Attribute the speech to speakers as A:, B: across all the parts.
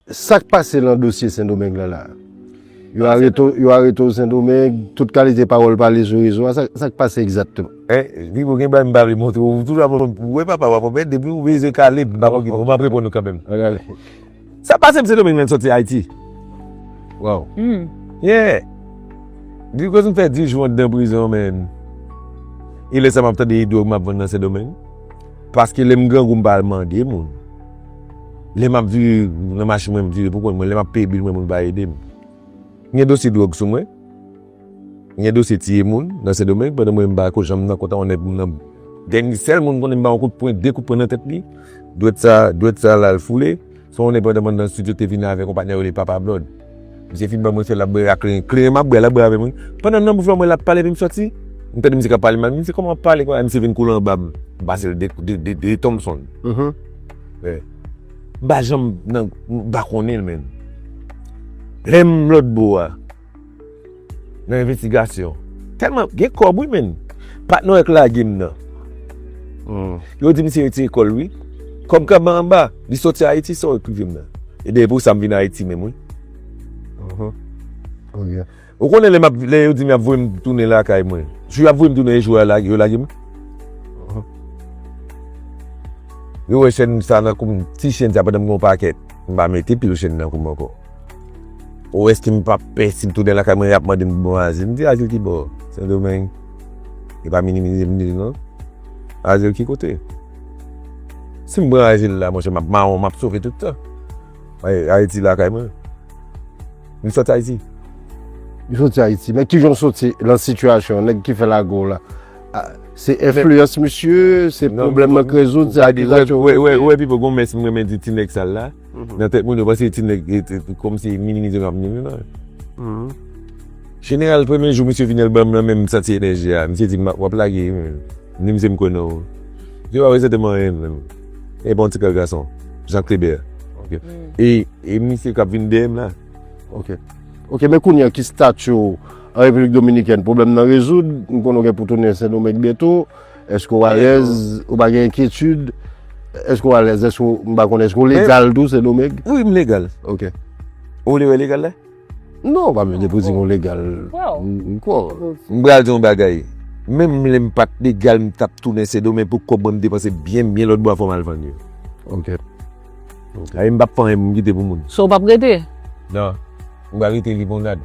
A: Sak pase lan dosye sendomeng lan la? Yo arete w, yo arete w sendomeng, tout kalite pawòl pale sou rezo a, sak pase egzatteman? Pipo gen bagay
B: m pa vle montre w, ou toujou ap reponn pou wè papa w ap wè, depi w beze kale m pa konn kite w, map reponn ou kanmenm. Ok ale.
A: Sak pase
B: m sendomeng lan sòti ayiti. Waw. Yeah. Di koz m fè 10 jou andan prizon men e lè sa map tande e dwòg map vann lan sendomeng, paske lè m grangou m pa al mande moun. Lè m ap vire nan machin mwen, m vire pou kont mwen. Lè m ap peye bil mwen, moun pa ede m. M gen dosye dwòg sou mwen. M gen dosye tiye moun nan Sendomeng pandan mwen m pa ko janm nan kontan onè pou m nan. Dènye sèl moun m konnen m ba yon kout pwen, de kout pwen nan tèt li. Dwèt sa, dwèt sa la l foule. Son onè pandan m anndan stidyo te vini avèk yon patnè yo rele Papa Blòd. Misye fin ban mwen sèl lap bwè a kleren. Kleren map bwè a lap bwè avèm wi. Pandan nan bouch mwen mwen lap pale epi m sòti. M tande misye kap pale mal. Misye kòman wap pale konsa misye vin kole anba m. M pase l 2 Thompson. M pa janm nan m pa konnen l menm. Lèm lòt bò a. nan envestigasyon. Tèlman gen kòb wi menn. Patnè w yo k lage m nan. Yo di misye rete lekòl wi. Kòm kanman anba. Li soti Ayiti sa w yo k rive m nan. Ebyen e pou sa m vin Ayiti menm wi.
A: Ou konnen
B: lè yo di m y ap voye m tounen lakay mwen. Jou y ap voye m tounen e jou yo lage m. Yo wè chèn m sa nan kou m. Ti chèn sa pandan m gen yon pakèt. M pa mete pil chèn nan kou m ankò. Ou eske m pap pè si m tounen lakay mwen y ap mande m pou bon azil? M di azil ki bò? Sendomeng? E pa minimize m di l non. Azil ki kote? Si m pran azil la monchè m ap mawon, m ap sove tout tan. Ayiti lakay mwen. M sot Ayiti. M
A: sot Ayiti. Men kijan w soti lan sitiyasyon nèg ki fè lage w la? Se enfliyans misye? Se pwoblèm mank rezoud? Ou wè Pipo gen yon mès
B: m renmen di ti nèg sal la? Nan tèt moun yo panse ti nèg kòm se minimize m ap minimize non. Jeneral premye jou misye vini l ban m nan men m santi enèji a. Misye di m w ap lage wi menm. M di misye m konnen w. Misye pa prezante m anyen menm. E bon ti kè gason. Jean Kleber. Ok. E misye k ap vin dèyè m la. Ok.
A: Ok men kounye an ki stati w an Repiblik Dominikèn? Pwoblèm nan rezoud? M konnen w gen pou tounen Sendomeng byento. Eske ou alèz, ou pa gen enkyetid, eske ou alèz, eske ou, m pa konnen, eske ou legal tou Sen Domeng? Wi m legal. Ok. Ou vle wè
B: legal la? Non, pa
A: bezwen depoze yon legal. M kwè w. M pral di w yon
B: bagay, menm lè m pat legal m tap tounen Sen Domeng pou kòb mwen m depanse byen byen lòtbò a fò m al vann yo. Ok. Sa vle di m pap fè anyen pou m kite pou moun. So ou pap rete?
C: Non.
B: M pral rete Limonad.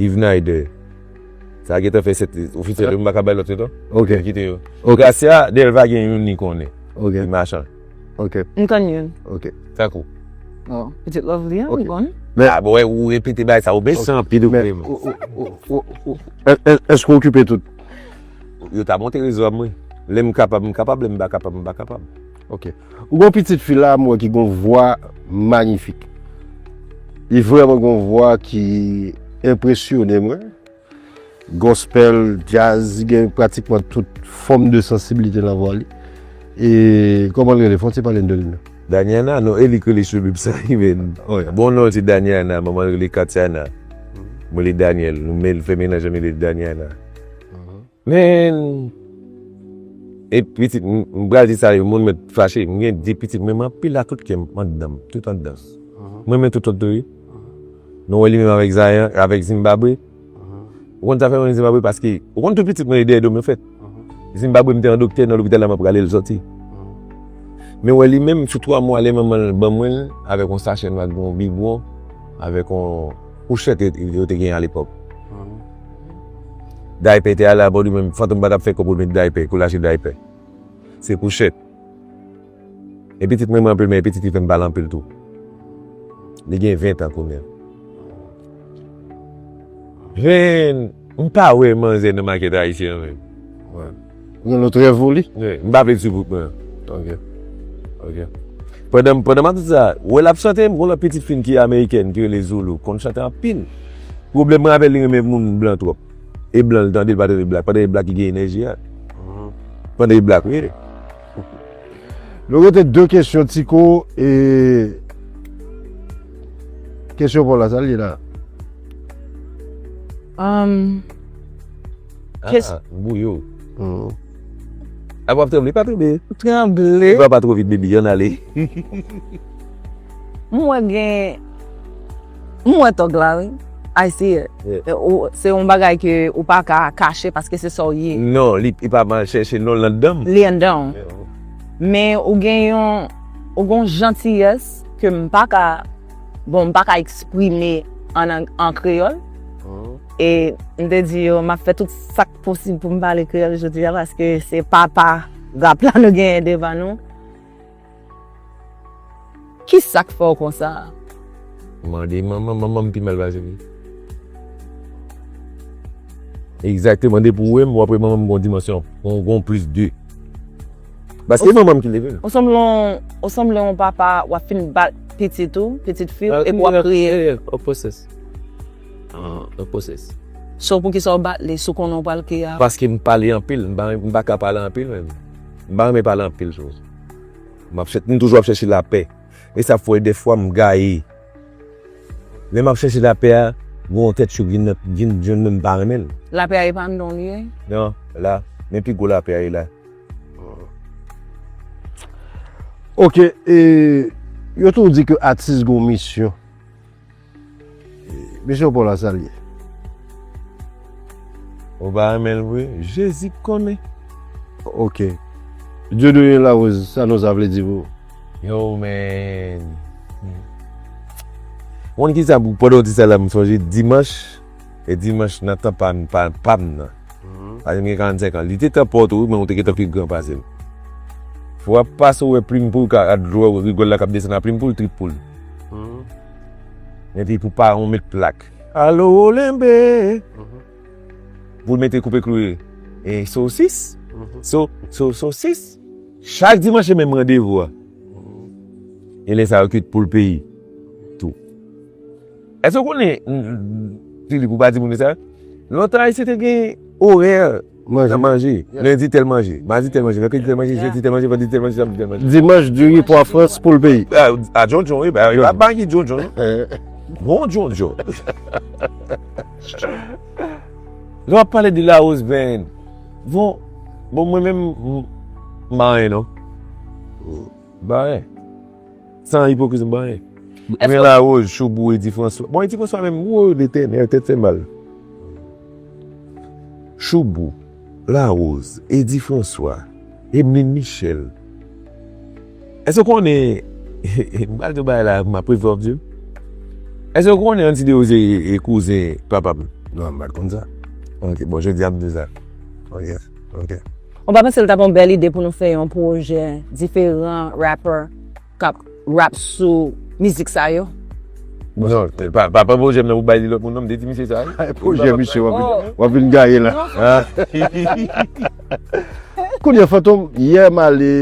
B: Yvnaide, sa gentan fè 7 ofisyèl yo m paka bay lòt yo non. Ok. M kite yo.
A: Gracia,
B: Delva gen youn li konnen. Ok. Li machan. Ok. M
A: konn youn. Ok.
B: Tankou? Oh, pitit
C: Lovely an, m konn. Men, a bon, ou
B: repete bagay sa, ou mechan anpil ou menm.
A: Èske ou okipe tout? Yo ta
B: monte rezo a mwen. Lè m kapab, m kapab, lè m pa kapab, m pa kapab. Ok
A: ou gon pitit fi la mwen ki gon vwa magnifik li vreman gon vwa ki enpresyone mwen gospel jazz li gen pratikman tout fom de sansibilite nan vwa li e koman li rele fon ti pale n de li non. Daniana non e li
B: k rele sou bib sa wi men bon non l se Daniana manman l rele Katiana mwen rele Daniel nou menl fè menaj an li rele Daniana. Men e pitit m pral di sa yo moun mèt fache m gen 2 pitit men m anpil a tout kèm anndanm tout anndan m renmen Toton tou wi nou wè li menm avèk Zayan avèk Zimbabwe ou konn sa fè m renmen Zimbabwe paske ou konn tout pitit mwen yo dèyè do m yo fèt Zimbabwe m te yon doktè nan lopital la m ap rale l sòti men wè li menm sou 3 mwa lè manman l ban mwen l avèk yon sachè nwa ak yon bibwon avèk yon fouchèt yo te gen alepòk. Daype te ale abò li menm Fantom pa tap fè kòb remèt daype kou lache daype se kouchèt e pitit mwen anpil men e pitit li fèm pale anpil tou li gen 20 tan kounya Vin mpa wè manzè nan makèt ayisyen an menm.
A: Yon lòt rèv ou li? Wi, m pa vle di pou
B: mwen. Ok. Ok. Pandan, pandan m ap di sa, wè l ap chante, m gen yon lòt pitit fi m ki amerikèn, ki rele Zoulou, konn chante anpil. Pwoblèm mwen avè l, li renmen moun blan twòp. E blan l tande, l pa tande blak. Pandan e blak ki gen enèji a. Pandan e blak, wi.
A: Nou rete de kesyon, Tiko, e Kesyon pa w la, sa l ye la? Am.
B: Kes- Ah, m bouyi w. Hum. Ap wap tranble, pa tranble. Tranble. Pran pa
C: two vit baby, ann
B: ale.
C: M wè gen, m wè tòg la wi. I see it. Yeah. E ou, se yon
B: bagay
C: ke ou pa ka kache paske se sa w ye. Non, li e pa m al
B: chèche non, l anndan m. Li anndan w. Yeah.
C: Men ou gen yon, ou gen yon jantiyès ke m pa ka, bon m pa ka eksprime an ang, an kreyòl. Hum. E m te di yo m ap fè tout sa k posib pou m pale kreyòl jodi a paske se papa rap la nou genyen devan nou. Ki sa k fè w konsa? M mande manman m, manman m
B: pi mal pase m. Egzakteman depi w wè m, w ap wè manman m gen yon dimansyon, gen yon plis de. Paske se manman m ki leve l. Ou sanble
C: ou sanble yon papa w ap fin bat pitit ou, pitit fi w epi w ap kriye. Opposite.
D: So poukisa ou
C: bat li si w konnen ou pral kriye apre? Paske m pale anpil,
B: m pa ka pale anpil menm. M pa renmen pale anpil tou. M toujou ap chèche lapè. E sa fè dèfwa m gaye. Lè m ap chèche lapè a, gen yon tèt cho ki vin jwenn mwen m pa renmen l. Lapè a epa anndan w li
C: ye? Non, la.
B: Men pi gwo lapè a e la.
A: Ok, yo toujou di ke atis gen yon misyon. Mesye Paul a sal ye.
B: Ou pa renmen l vre jezi k konnen. Ok
A: Dieudonne Larose sa non sa vle di pou ou? Yo
B: men Ou konn kisa pou pandan w di sa la m sonje dimanch e dimanch nan tan pa m pa m nan paske m gen 45 an li te tan pa w tou wi men ou te gentan pi gran pase m fwa pase w wè plim pou l ka a dlo rigòl la k ap desann a plim pou l trip pou l. Epi pou pa yon met plak. Alo olenbe. Pou mete koupe klouye. E sosis. So, so, sosis. Chak dimanch se menm randevou a. E lè sa yo kuit poul peyi. Tou. Èske w konnen, Filip ou pa di moun yo sa? Lontan Ayisyen te gen orè. Nan manje,
A: lendi tèl
B: manje, madi tèl manje, mèkredi tèl manje, jedi tèl manje, vandredi tèl manje, samdi tèl manje. Dimanch, diri, pwa
A: frans, poul peyi. A djondjon wi,
B: yo pa magi djondjon non. Bon djondjon. Lè w ap pale de lawòs vèn, bon, bon mwen menm m pa anyen non. M pa anyen. San ipokrizi m pa anyen. Mwen laroz choubou edi franswa. Bon edi franswa menm woo de tè nè tèt fè mal. Choubou, laroz, edi franswa, emline michel. Èske w konnen m pral di w bagay la m ap regret ap di l. Èske w konnen anti deo se kouzen papa m. Non m pat konn sa.
A: Ok bon jodi a
B: m di w sa. Ou pa panse
C: li tap yon bèl ide pou nou fè yon pwojè diferan rapper kap rap sou mizik sa yo? Non,
B: pa pran pwojè m nan pou bay li lòt moun non, m te di misye sa wi. Bay pwojè misye
A: w ap vin gaye la. Kounye Fantom, yè m ale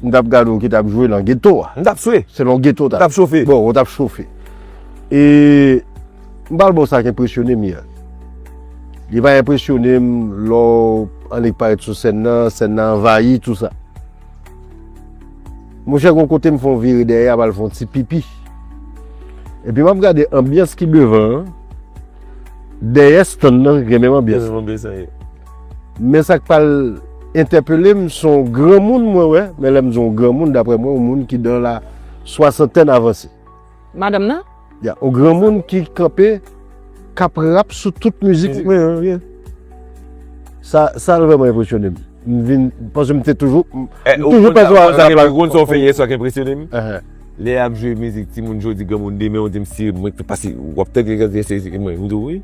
A: m tap gade w ki tap jwe nan geto a. M tap swe. Se nan
B: geto w tap. M tap chofe.
A: Bon, ou tap
B: chofe.
A: E. M pral ba w sa k enpresyone m yè. Li va enpresyone m lè w annik parèt sou sèn nan, sèn nan anvayi, tou sa. Monchè gon kote m fè yon vire dèyè ap al fè yon ti pipi. Epi m ap gade anbyans ki devan an, dèyè stann nan gen menm anbyans lan. Men sa k pral entèpele m se yon granmoun mwen wè, men lè m di yon granmoun daprè mwen yon moun ki nan la swasantèn avanse. Madanm nan?
C: Ya yon granmoun
A: ki kanpe k ap rap sou tout mizik mwen an wi. Sa sa vrèman enpresyone m. M vin paske m te toujou m toujou pèsevwa
B: sa pa Ou konn sa w fè yè swa k enpresyone m? Lè y ap jwe mizik timoun jodi granmoun demen ou di m si mwen k pase w ap tande kèk pye se mwen m di w wi.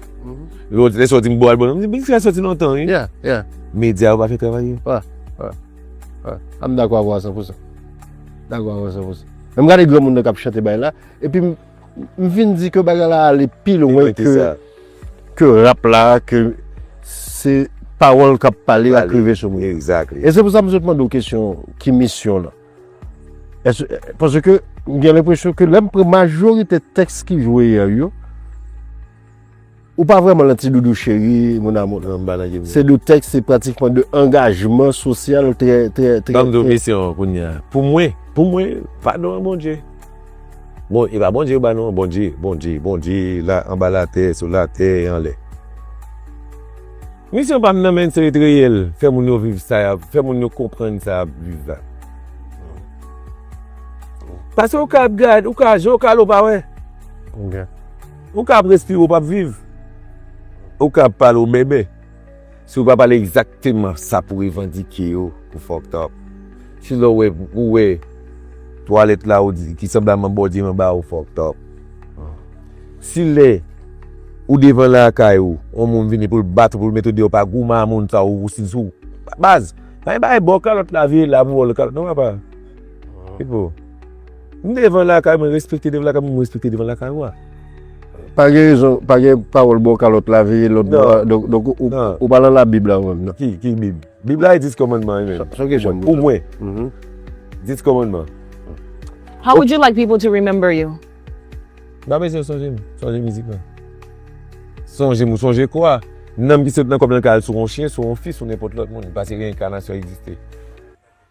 B: Lè sa w di m bon album nan m di w mizik sa soti lontan wi.
A: Medya yo pa
B: fè travay yo.
A: M dakò avè w a san pou san. Dakò avè w a san pou san. Lè m gade granmoun nan k ap chante bagay la, epi m vin di ke bagay la ale pi lwen ke rap la, ke se pawòl k ap pale ak rive sou moun. Exactly. E se pou sa m sot
B: mande w
A: kesyon ki misyon lan. Paske m gen lenpresyon ke lè m pran majorite tèks ki jwe yè yo, Ou pa vrèman lan ti doudou cheri mon amour nan ba lage vre. Se de tèks se pratikman de angajman sosyal trè trè trè. Banm do kesyon
B: an kounya pou mwen pou mwen padon an Bondye bon e pa Bondye yo ba nou an Bondye Bondye Bondye la anba latè sou latè e anlè misyon pam nan men se ret reyèl fè moun yo viv sa yap fè moun yo konprann sa yap viv la paske ou ka ap gad ou ka jan ou ka la ou pa wè. Ou ka ap respire ou pap viv. Ou ka ap pale ou bèbè. Si ou pa pale egzakteman sa pou revandike yo, ou fucked up. Si lè ou wè twalèt la ou di ki sanblab man bòdye manba ou fucked up. Si lè ou devan lakay ou, yon moun vini pou l bat ou pou l mete ou deyò pa goumen a moun sa ou si sou. Baz, pa gen bagay baw kalòt la vire la pou baw lòt kalòt non papa. Pipo. M devan lakay mwen respekte devan lakay mwen respekte devan lakay ou a. Pa gen
A: rezon, pa gen pawòl bò kalòt lave lòt bò a, donk ou pa lan labib la ou menm nan. Ki bib? Bib
B: la e 10 kòmandman yo menm. Pou mwen. 10 kòmandman. How
C: would you like people to remember you? M pa
B: bezwen yo sonje m, sonje mizik lan. Sonje m ou sonje kwa? Nanm ki sot nan kò m lan ka al sou yon chyen, sou yon fi, sou nenpòt lòt moun, pase reinkanasyon egziste.